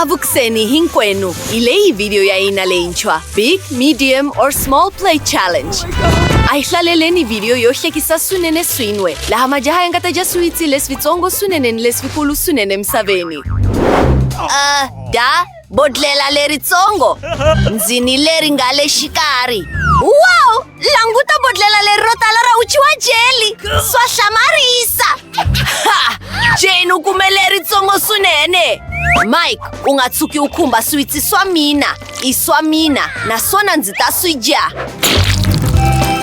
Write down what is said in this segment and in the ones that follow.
Avuxeni hinkwenu hi leyi vhidiyo ya hina leyintshwa Big, Medium or Small Play Challenge. A hi hlaleleni vhidiyo yo hlekisa swinene swin'we laha majaha ya nga ta dya swiwitsi leswitsongo swinene ni leswikulu swinene emisaveni. Uh, da bodlela leritsongo ndzi ni leri nga le xikarhi wow Languta bodlhela leri ro tala ra uchi wa jeli swa hlamarisa jeni u kume leritsongo swinene mike u nga tshuki u khumba switsi swa mina i swa mina naswona ndzi ta swi dya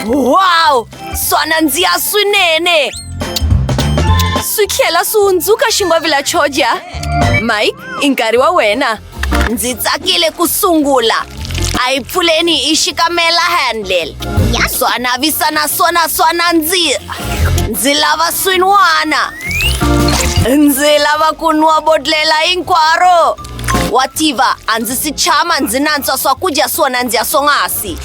wow swa nandziha swinene swi tlhela swi hundzuka xingwavila xo dya mike i nkarhi wa wena ndzi tsakile ku sungula a yi pfuleni hi xikamela handle swa navisa naswona swa nandziha ndzi lava swin'wana ndzi lava ku nwa bodlela hinkwaro wa tiva a ndzi si tshama ndzi nantswa swakudya swona ndzi ya swonghasi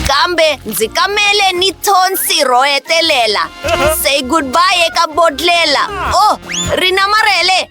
kambe ndzi kamele ni thonsi ro hetelela say goodbye eka bodlela o oh, ri namarhele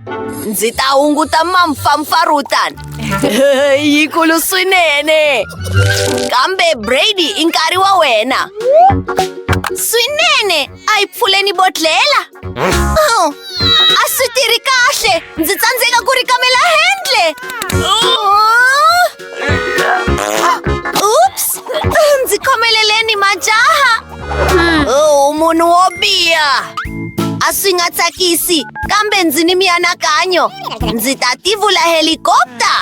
Ndzi ta hunguta mampfampfarhutana yi kulu swinene kambe Brady i nkarhi wa wena swinene a yi pfuleni bodhlela oh, a swi tirhi kahle ndzi tsandzeka ku ri kamela handle oh. ups ndzi khomeleleni majaha Oh, munhu wo biha a swi nga tsakisi kambe ndzi ni mianakanyo ndzi ta tivula helikopta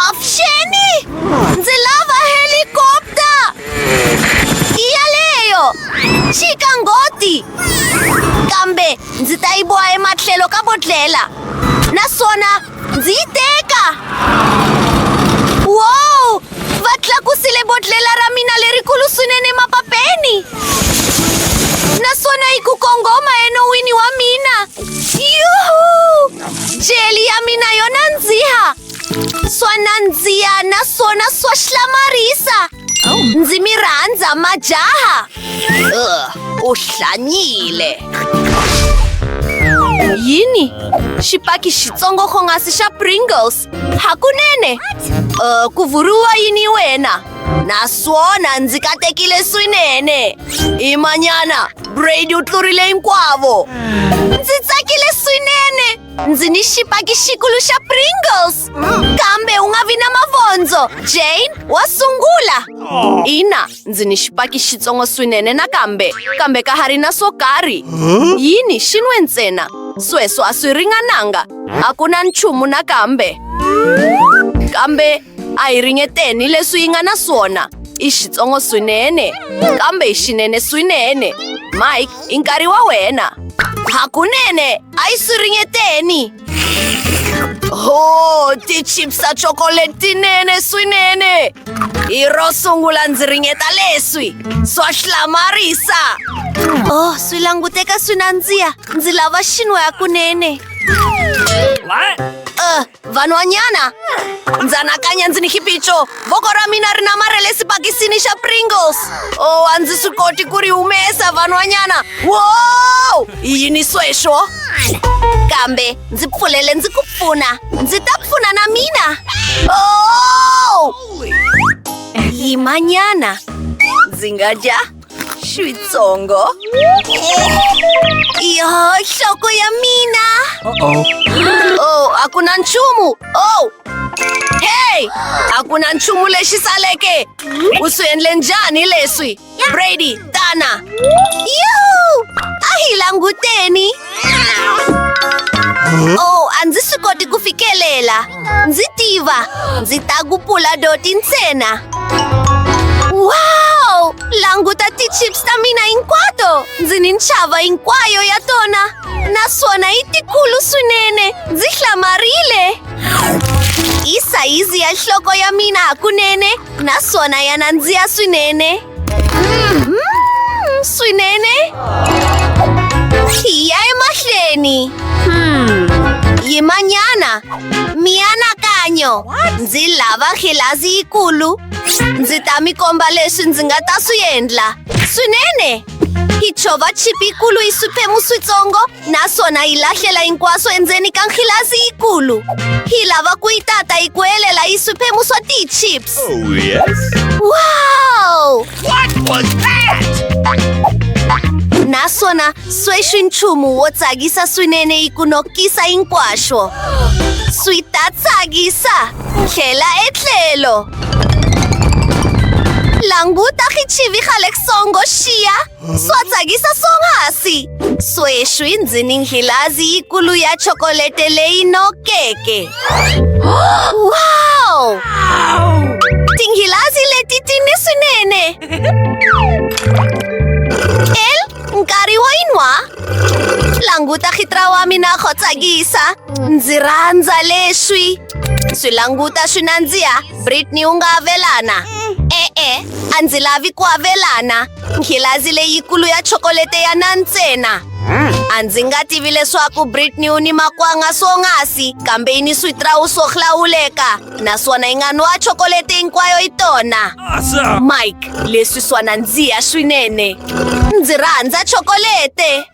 opsheni ndzi lava helikopta i yaleyo chika ngoti kambe ndzi ta yi boha ematlhelo ka bodlela naswona ndzi yi teka wow va tlakusile bodlela ra mina lerikulu swinene mapapeni naswona yi ku kongoma enowini wa mina yuhu jeli ya mina yo nandziha swa nandziha naswona swa hlamarisa Ndzi mi rhandza majaha. Uh, u hlanyile. Yini? Xipaki xitsongo khongasi xa Pringles. Hakunene. Uh, ku vuriwa yini wena? Naswona ndzi katekile swinene. Imanyana, Brady u tlurile hinkwavo. Ndzi tsakile swinene. Ndzi ni xipaki xikulu xa Pringles. Kambe u nga vi na mavondzo. Jane wa sungula. Ina, ndzi ni xipaki xitsongo swinene nakambe, kambe ka ha ri na swo karhi. Yini xi nwe ntsena? Sweswo a swi ringananga. A ku na nchumu nakambe. Kambe a hi ringeteni leswi yi nga na swona. I xitsongo swinene, kambe i xinene swinene. Mike, i nkarhi wa wena. Hakunene, a yi swi ringeteni. Oh, ti chips a chocolate tinene swinene! Hi ro sungula ndzi ringeta leswi, swa hlamarisa! Oh, swi languteka swi nandziha, ndzi lava xin'we hakunene. Uh, vanhwanyana, ndzi anakanya ndzi ni xiphiqo, voko ra mina ri namare le sibakisini xa pringles o oh, a ndzi swi koti ku ri humesa vanhwanyana wo yini sweswo kambe ndzi pfulele ndzi ku pfuna ndzi ta pfuna na mina o oh! yimanyana ndzi nga dya Xitsongo? Iyo, nhloko ya mina! Uh-oh. Oh, a ku na nchumu! Oh! Hey! A ku na nchumu lexi saleke! U swi endle njhani leswi? Brady, tana! Yuhu! A hi languteni! oh a ndzi swi koti ku fikelela ndzi tiva ndzi ta ku pula doti ntsena wow languta ti-chips ta mina hinkwato ndzi ni nxava hinkwayo ya tona naswona yi tikulu swinene ndzi hlamarile i sayizi ya nhloko ya mina hakunene naswona ya nandziya swinene Mmm, swinene tiya emahlweni yimanyana mianakanyo ndzi lava khilazi yikulu ndzi ta mi komba leswi ndzi nga ta swi endla swinene hi chova chipi yikulu yi swiphemu switsongo naswona yi lahlela hinkwaswo endzeni ka nghilasi yikulu yi lava ku yi tata yi ku helela yi swiphemu swa ti-chips Oh, yes. wow What was that? naswona sweswi nchumu wo tsakisa swinene yi ku nokisa hinkwaswo swi ta tsakisa tlhela etlhelo languta khichivi xa le songo xiya Sotsakisa swonghasi sweswi ndzi ni nghilazi yikulu ya chokolete leyi nokeke wow tinghilazi leti ti ni swinene el nkarhi wo yi nwa languta khitra wa mina go tsakisa ndzi rhandza leswi swi languta swi nandziha britney u nga avelana e-e a ndzi lavi ku avelana nghilazi leyikulu ya chokolete ya na ntsena hmm. a ndzi nga tivi leswaku britney u ni makwanga swongasi kambe yi ni switrawu swo hlawuleka naswona yi nga nwa chokolete hinkwayo yi tona mike leswi swa nandziha swinene ndzi rhandza chokolete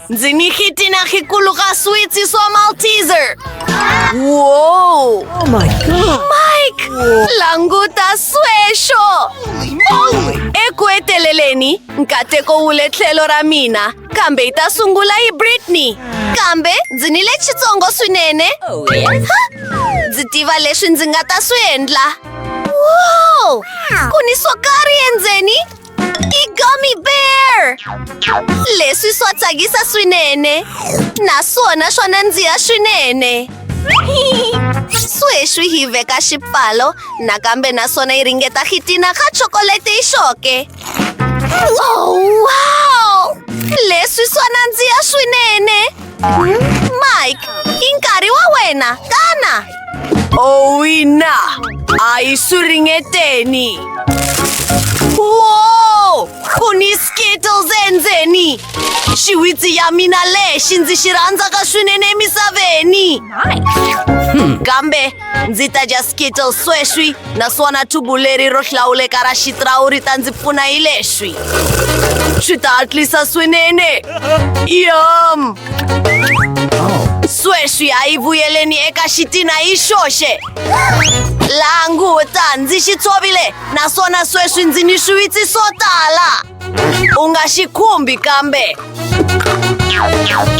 Ndzi ni xitina xikulu ka switsi swa Malteser. Wow! Oh my God! Mike! Languta sweswo! Eku heteleleni, nkateko wu le tlhelo ra mina, kambe yi ta sungula hi Britney. Kambe ndzi ni le xitsongo swinene. Oh, ha! Ndzi tiva leswi ndzi nga ta swi endla. Wow! Ku ni swo karhi endzeni? I-gummy bear! Leswi swa tsakisa swinene. Naswona swa nandziha swinene. Sweswi hi veka xipfalo nakambe naswona yi ringeta khitina ka chocolate yi xoke. Oh, wow! Leswi swa nandziha swinene. Mike, inkari wa wena, kana! Owina! Ai suringeteni! Wow! Ku ni Skittles endzeni! Xiwitsi ya mina lexi ndzi xi rhandzaka swinene emisaveni! Kambe ndzi ta dya skittle sweswi naswona thubu leri ro hlawuleka ra xitrawu ri ta ndzi pfuna hi leswi swi ta hatlisa swinene yom sweswi a yi vuyeleni eka xitina hi xoxe languta ndzi xi tshovile naswona sweswi ndzi ni swiwitsi swo tala u nga xi khumbi kambe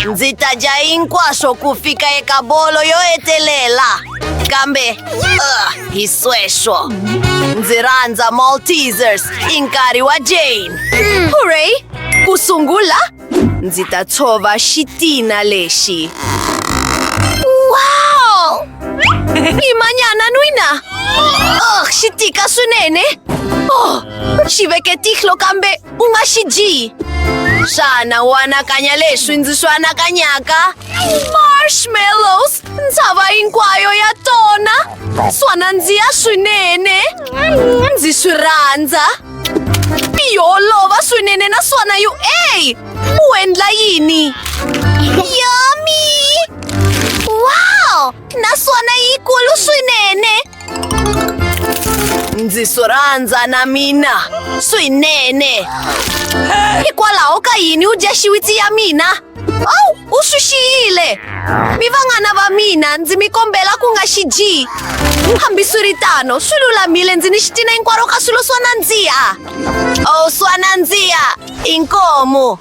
ndzi ta dya hinkwaswo ku fika eka bolo yo hetelela kambe uh, hi sweswo ndzi rhandza maltesers i nkarhi wa jane hurray ku sungula Ndzi ta tshova xitina lexi. Wow! I manyana n'wina! Oh, xi tika swinene! Oh, xi veke tihlo kambe u nga xi dyi! Xana u anakanya leswi ndzi swi anakanyaka? Marshmallows! Ntshava hinkwayo ya tona! Swa nandziha swinene! Ndzi swi rhandza! yo olova swinene naswona yu e u endla yini yomi wow naswona yikulu swinene ndzi swi rhandza na mina swinene hikwalaho ka yini u dya xiwitsi ya mina Awu, u swi xiyile. Mi vanghana va mina, ndzi mi kombela ku nga xi dyi. Hambiswiritano, swi lulamile ndzi ni xitina hinkwaro ka swilo swa nandziha. Oh, swa nandziha, i nkomo.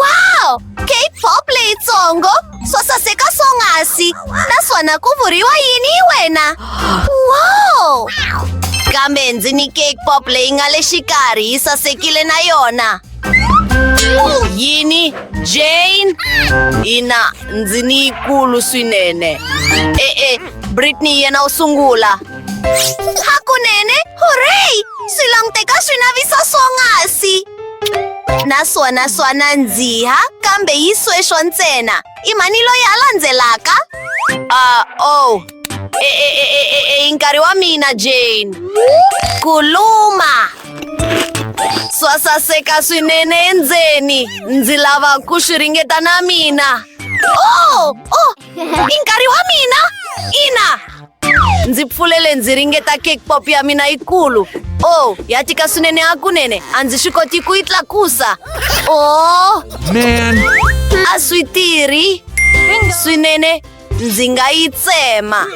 Wow! Cape Pop leyitsongo, swa saseka swonghasi, naswona ku vuriwa yini hi wena? Wow! Kambe ndzi ni cake pop leyi nga le xikarhi yi sasekile na yona. yini jane ina ndzi ni yikulu swinene e-e britney yena u sungula hakunene hurray swi languteka swi navisa swonghasi naswona swana ndziha kambe yi sweswo ntsena i mhani loyi a landzelaka a o E, e, e, e, e, e, i nkarhi wa mina jane ku luma swa saseka swinene endzeni ndzi lava ku swi ringeta na mina oh, oh, i nkarhi wa mina ina ndzi pfulele ndzi ringeta cake pop ya mina yikulu oh ya tika swinene hakunene a ndzi swi koti ku yi tlakusa oh man a swi tirhi swinene ndzi nga yi tsema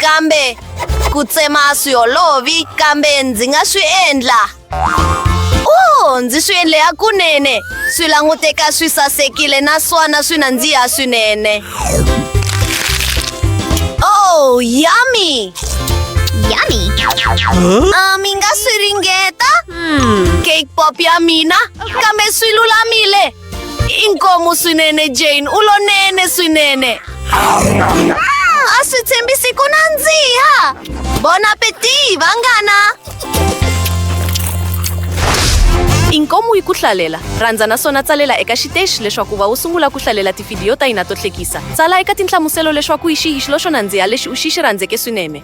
kambe ku tsema a swi olovi kambe ndzi nga swi endla o ndzi swi endle ya kunene swi languteka swi sasekile naswona swi nandziha swinene o yummy Yummy. Ah, mi nga swi ringeta cake pop ya mina kambe swi lulamile inkomo swinene jane u lonene swinene a swi tshembisi ku nandziha bon appetit vanghana inkomu yi ku hlalela rhandza naswona tsalela eka xiteshi leswaku va wu sungula ku hlalela tivhidiyo ta hina to hlekisa tsala eka tinhlamuselo leswaku yi xihi xilo xo nandziha lexi u xi xi rhandzeke swinene